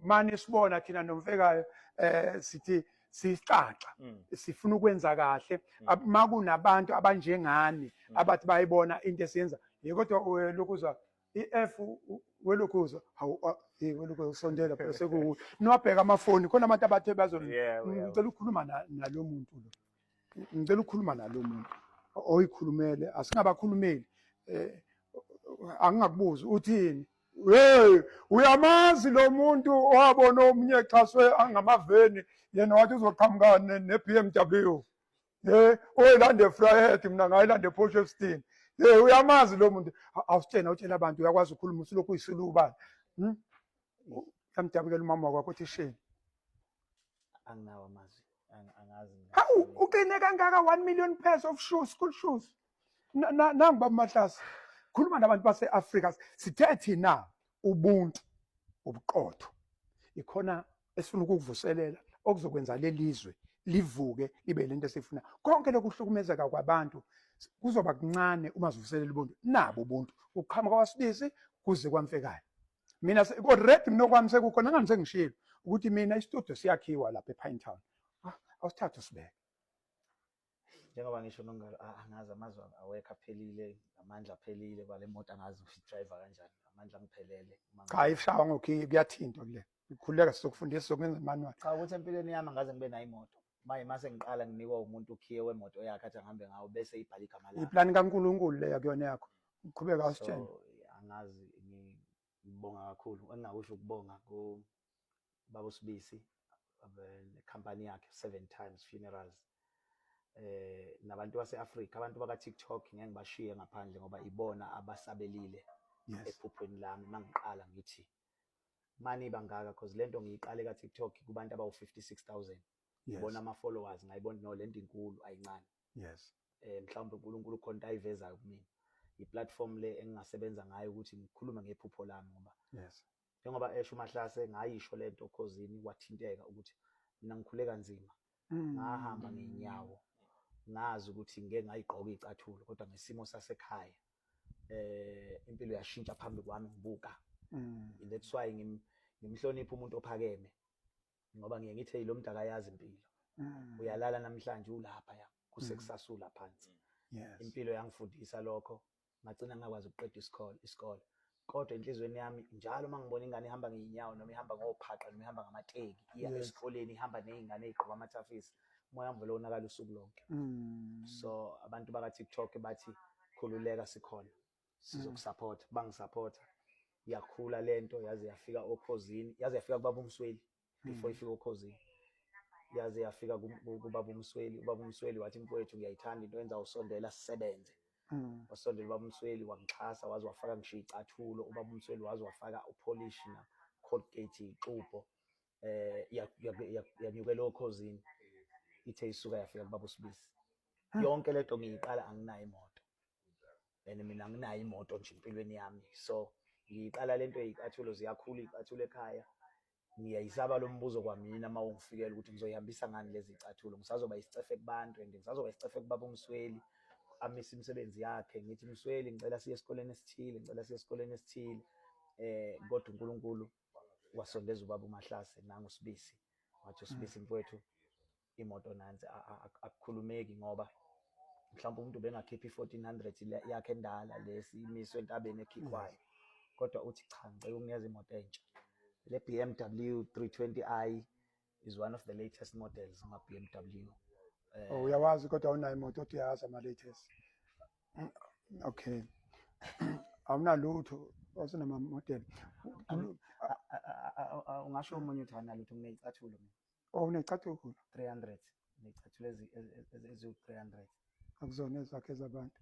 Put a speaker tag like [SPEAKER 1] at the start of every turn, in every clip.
[SPEAKER 1] mani sibona thina nomfekayo eh sithi sisixaxa mm. sifuna ukwenza kahle mm. makunabantu abanjengani mm. abathi bayibona into esiyenza kodwa lokuzwa i-F welokuzwa hawu hey welokuzwa usondela phela sekuwu niwabheka amafoni khona abantu abathe bazo ngicela ukukhuluma nalo muntu lo ngicela ukukhuluma nalo muntu oyikhulumele asingabakhulumeli eh angingakubuzi uthini Hey, uyamazi lo muntu owabona omunye exhaswe angamaveni yena wathi uzoqhamuka ne-BMW ye oyilande efryhead mina ngayilande eposh efstein ye uyamazi lo muntu awusitshena utshela abantu uyakwazi ukhuluma usulokhu uyisilubana hmm? yamdabukela umama wakwakho uthi sheni
[SPEAKER 2] anginawo amazwi angazi hawu uqine
[SPEAKER 1] kangaka 1 million pairs of shoes school shoes nangu bamahlasi khuluma nabantu base-afrika sithe thina ubuntu ubuqotho ikhona esifuna ukukuvuselela okuzokwenza lelizwe livuke libe lento esifuna konke lokuhlukumezeka kwabantu kuzoba kuncane uma sivuselela ubuntu nabo ubuntu ukuqhamuka kwasibisi kuze kwamfekayo mina already mina okwami sekukhona ngani sengishilo ukuthi mina istudio siyakhiwa lapha ePine Town ah, awusithathe usibeke
[SPEAKER 2] njengoba ngisho nongalo ah, angazi amazwi awekho aphelile amandla aphelile kwale moto angazi ukuthi driver kanjani amandla angiphelele cha ifshawa
[SPEAKER 1] ngokhiye kuyathinta kule ngikhuleka sizokufundisa sokungenza manual cha ukuthi empilweni yami
[SPEAKER 2] angaze ngibe nayo imoto manje mase ngiqala nginikwa umuntu ukhiye wemoto yakhe athi angihambe ngawo bese ibhala igama lakhe iplani kaNkulunkulu leya
[SPEAKER 1] kuyona yakho uqhubeka usitshela angazi
[SPEAKER 2] ngibonga kakhulu engingakusho ukubonga ku baba uSibisi nekhampani yakhe seven times funerals eh nabantu baseAfrika abantu baka TikTok ngeke ngibashiye ngaphandle ngoba ibona abasabelile ephuphweni lami mangiqala ngithi mani bangaka because lento ngiyiqale ka TikTok kubantu abawu 56000 ngibona ama followers ngayibona no lento inkulu ayincane yes eh mhlawumbe uNkulunkulu khona ayivezayo kumina iplatform le engingasebenza ngayo ukuthi ngikhulume ngephupho lami ngoba yes njengoba esho umahlase ngayisho lento khozini wathinteka ukuthi mina ngikhule kanzima mm. ngahamba ngenyawo ngazi ukuthi ngeke ngayigqoka icathulo kodwa ngesimo sasekhaya eh impilo yashintsha phambi kwami ngibuka mm. that's why ngim ngimhlonipha umuntu ophakeme ngoba ngiye ngithe lo mdaka yazi impilo mm. uyalala namhlanje ulapha ya kusekusasula phansi impilo yangifundisa lokho ngagcina ngakwazi ukuqeda isikole isikole kodwa enhlizweni yami njalo uma ngibona ingane ihamba ngeyinyawo noma ihamba ngophaqa noma ihamba ngamateki iya Yes. esikoleni ihamba neyingane eyigqoka amathafisi umoya wami vele wonakala usuku lonke Mm. so abantu baka TikTok bathi khululeka sikhona sizokusupport bangisupporta yakhula lento yaze yafika okhozini yaze yafika kubaba umsweli before ifika okhozini yaze yafika kubaba umsweli ubaba umsweli wathi mfowethu ngiyayithanda into yenza usondela sisebenze Mm. wasondela ubaba umsweli wangixhasa waze wafaka ngisho icathulo ubaba umsweli waze wafaka upolish na colgate ixubho eh yanyukela okhozini ithe isuka yafika kubaba usibisi ah. yonke lento ngiyiqala anginayo imoto and mina anginayo imoto nje empilweni yami so ngiyiqala lento eyicathulo ziyakhula icathulo ekhaya ngiyayisaba lo mbuzo kwamina uma ungifikela ukuthi ngizoyihambisa ngani lezi cathulo ngisazoba isicefe kubantu and ngisazoba isicefe kubaba umsweli amisa imisebenzi yakhe ngithi msweli ngicela siye esikoleni esithile ngicela siye esikoleni esithile eh kodwa uNkulunkulu wasondeza ubaba uMahlase nangu sibisi wathi usibisi mfowethu imoto nansi akukhulumeki ngoba mhlawumbe umuntu bengakhipha i-1400 yakhe endala lesi imiswe entabeni ekhikhwayo kodwa uthi cha ngicela ukunikeza imoto entsha le BMW 320i is one of the latest models ma BMW eh, oh uyawazi
[SPEAKER 1] kodwa unayo imoto othi uyazi ama latest mm, okay awunalutho wasenama model
[SPEAKER 2] ungasho omunye uthi awunalutho kuneyicathulo mina Oh unecathulo. 300 necathulo ezi eziwu 300. Akuzona
[SPEAKER 1] ezakhe zabantu.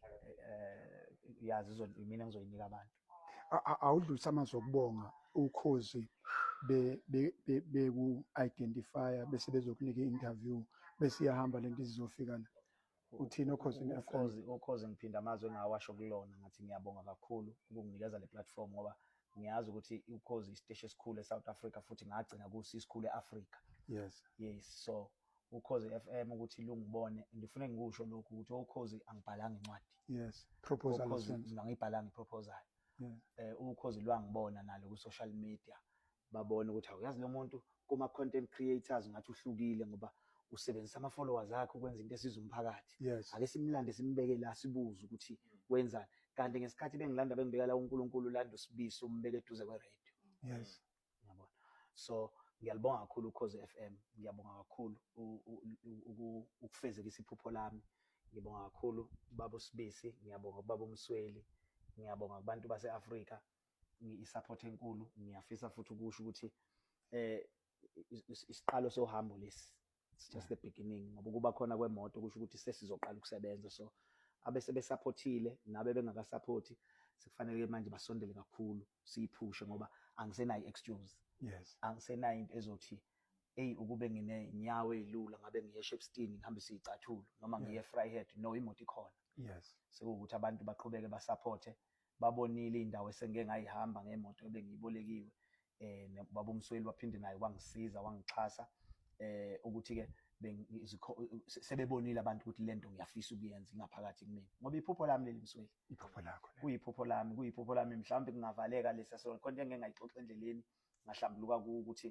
[SPEAKER 1] Eh, eh
[SPEAKER 2] yazi izo mina ngizoyinika abantu. Awudlulisa
[SPEAKER 1] amazwi okubonga ukhozi be beku identify bese bezokunika interview bese iyahamba lento izofika la. Uthini okhozini FM? Ukhozi
[SPEAKER 2] ukhozi ngiphinda amazwi engawasho kulona ngathi ngiyabonga kakhulu ukunginikeza le platform ngoba ngiyazi ukuthi ukhozi isiteshi esikhulu eSouth Africa futhi ngagcina kusi isikhulu eAfrica. Yes. Yes
[SPEAKER 1] so
[SPEAKER 2] ukhozi FM ukuthi lungibone ngifune ngikusho lokhu ukuthi ukhozi angibhalanga incwadi. Yes. Proposal. Ukhozi ngangibhalanga iproposal. Yes. Eh ukhozi
[SPEAKER 1] lwangibona
[SPEAKER 2] nalo ku social media. babone ukuthi awuyazi lo muntu kuma-content creators ngathi uhlukile ngoba usebenzisa ama-followers akhe ukwenza into esiza umphakathi yes. ake simlande
[SPEAKER 1] simbeke
[SPEAKER 2] la sibuze ukuthi wenzani kanti ngesikhathi bengilanda bengibeka la unkulunkulu ulanda usibiso umbeke eduze kweradio yes.
[SPEAKER 1] yabona
[SPEAKER 2] so ngiyalibonga kakhulu ukhoze f m ngiyabonga kakhulu ukufezekisa iphupho lami ngibonga kakhulu baba usibisi ngiyabonga kubaba umsweli ngiyabonga kubantu base-afrika i-support enkulu ngiyafisa futhi ukusho ukuthi eh isiqalo sohambo lesi it's just the beginning ngoba kuba khona kwemoto kusho ukuthi sesizoqala ukusebenza so abese besupportile nabe bengakasupporti sekufanele manje basondele kakhulu siyiphushe ngoba angisenayo excuse yes angisenayo
[SPEAKER 1] into ezothi
[SPEAKER 2] hey ukube ngine nyawo ezilula ngabe ngiye Shepstein ngihambe siyicathulo noma ngiye Fryhead no imoto ikhona yes sekuwukuthi
[SPEAKER 1] abantu
[SPEAKER 2] baqhubeke basupporte babonile indawo esengike ngayihamba ngemoto ebengiyibolekiwe eh baba umsweli waphinde naye wangisiza wangixhasa eh ukuthi ke sebebonile abantu ukuthi lento ngiyafisa ukuyenza ingaphakathi kumina ngoba iphupho lami leli msweli iphupho lakho
[SPEAKER 1] kuyiphupho lami kuyiphupho
[SPEAKER 2] lami mhlawumbe kungavaleka lesa so khona engeke ngayixoxa endleleni ngahlambuluka ukuthi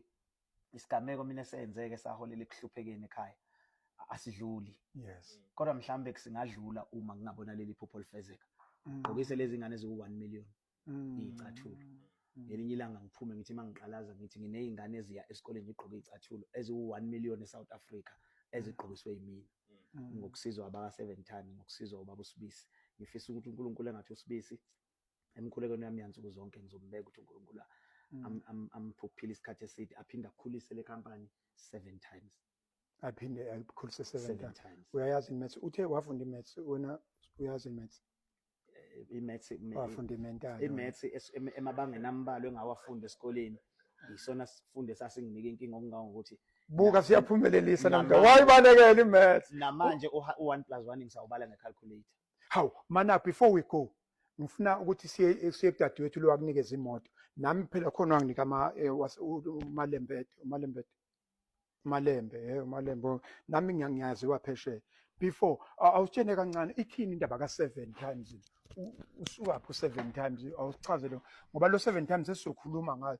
[SPEAKER 2] isigameko mina esenzeke saholela ekuhluphekeni ekhaya asidluli yes
[SPEAKER 1] kodwa mhlambe
[SPEAKER 2] kusingadlula uma ngingabona leli phupho lifezeka mm. gqokise lezi ngane ziwu 1 million mm. icathulo mm. ngelinye ilanga ngiphume ngithi mangiqalaza ngithi nginezingane eziya esikoleni ngigqoke icathulo eziwu 1 million eSouth Africa ezigqokiswe yimina ngokusizwa abaka 7 ton ngokusizwa ubaba usibisi ngifisa ukuthi uNkulunkulu engathi usibisi emkhulekweni yami yansuku zonke ngizombeka ukuthi uNkulunkulu mm. amphuphile isikhathi eside aphinde akhulise le company seven times aphinde
[SPEAKER 1] akhulise seven times uyayazi imaths
[SPEAKER 2] uthe
[SPEAKER 1] wafunda imaths wena uyazi imaths eh, imaths wafunda
[SPEAKER 2] imental imaths emabangeni ambalwa engawafunda esikoleni yisona sifunde sasinginika inkinga okungawo ukuthi buka
[SPEAKER 1] siyaphumelelisa namda wayibalekela imaths namanje u1
[SPEAKER 2] plus 1 ngisawubala ngecalculator hawu mana
[SPEAKER 1] before we go ngifuna ukuthi siye siye kudadewethu lo wakunikeza imoto nami phela khona wanginika ama eh, umalembede umalembede umalembe eh umalembe oh, nami ngiyangiyazi waphesheya before awutshene kancane ithini indaba ka seven times usuka pho seven times awuchazele ngoba lo seven times esizokhuluma ngayo